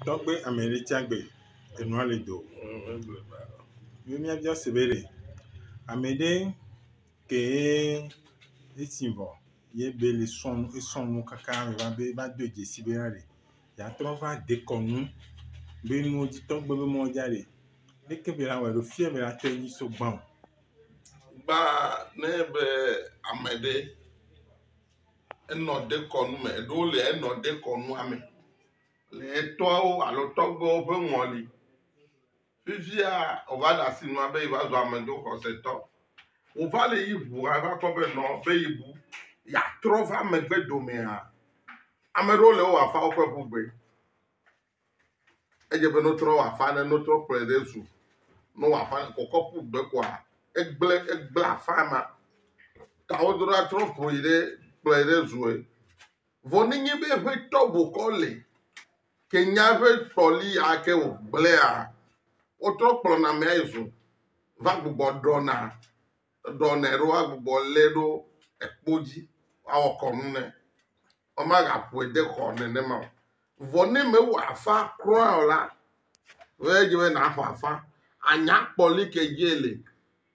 Tɔgbe ame ɖe tsa gbe enua le do mi mia bia se be ɖe ame ɖe ke ye etsi vɔ ye be le sɔ nu esɔ nu kaka va be va do dzesi be na ɖe yeatrɔ va dekɔnu be nu dzi tɔgbe be mɔ dza ɖe leke be la wɔe ɖo fia be la tɔ edzi so gbã o. Gbã ne be ame ɖe. Enɔ dekɔnu me, eɖewo le enɔ dekɔnua me le etɔwo alo tɔgbuiwo ƒe ŋɔli. Fifia wòva le asi nua be yeava zu amedzroxɔsetɔ. Wòva le yi ŋu hã va kpɔ be nɔ be yebu yeatrɔ va megbe domea, ame aɖewo le ewɔ afawo ƒe ŋugbe. Edze be no trɔ wa fa ne no trɔ kplɔe ɖe zu. No wa fa ne kɔkɔ ƒu gbe kɔa egble egble afa ma. Ta wo dora trɔ ƒoe ɖe kplɔe ɖe zue. Vɔ ne nye be eƒe tɔbo kɔ le ke nya eƒe tɔli ake wo gblea wo trɔ kplɔ na mea yi zu va gbugbɔ ɖɔna. Eɖɔ nɛ ɖo agbugbɔ lé ɖo ekpo dzi woawɔ kɔnu nɛ. Womagaƒoe de xɔ nenema o. Vɔ ne mewɔ afa kura o la, wòye dze be nàxɔ afa. Ànya kpɔli ke dzie le.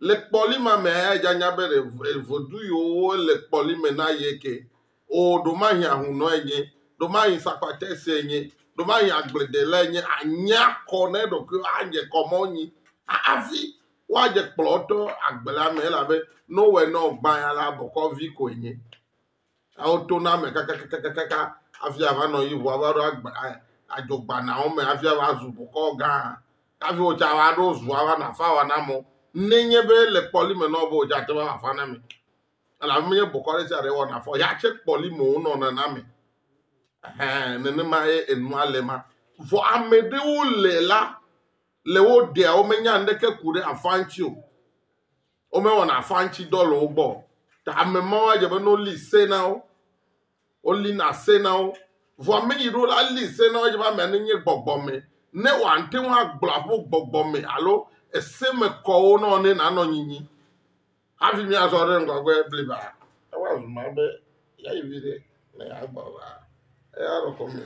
Le kpɔli ma mea, eyae dze anya be ɖe v- vedu yiwo le kpɔli me na ye ke. O, ɖomahi ahunɔe nye, ɖomahi sakpatɛsɛ nye, ɖomahi agbledelae nye. Ànya kɔ na eɖokuiwò, adze kɔ mɔ nyi hafi Woadze kplɔtɔ agbe la me elabe Noe nɔ gbã ya la bɔkɔvi koe nye. Ewo to na me kakakakakaka hafi ava nɔ yi ʋua va ɖo agbe adzogbanao me hafi ava zu bɔkɔ gã. Hafi wotsa va ɖo zua va nɔ afa wa na mɔ nenye be le kpɔli me nɔ be wotsa te va afa na me. Elabe menye bɔkɔ ɖe sia ɖe wɔna fɔ ya tse kpɔli me wonɔ nana me. Nenema ye enua le ma. Vɔ ame ɖewo le la le wo ɖea womenya ŋɖeke ku ɖe afã ŋtsi o. Wome wɔna afã ŋtsi dɔ le wogbɔ o. Ta ame mawo adze be ne woli se na wo, woli na se na wo. Vɔa meyi ɖo la li se na wo adze be amea ne nye gbɔgbɔ me, ne wòa ŋte ŋu agblɔ aƒo gbɔgbɔ me alo ese me kɔwo nɔ ne na nɔ nyinyi. Hafi mía zɔ ɖe ŋgɔgbe bliba, ewa zuma be ya yi viɖe ne ya gbɔ va, eya nɔ kɔme.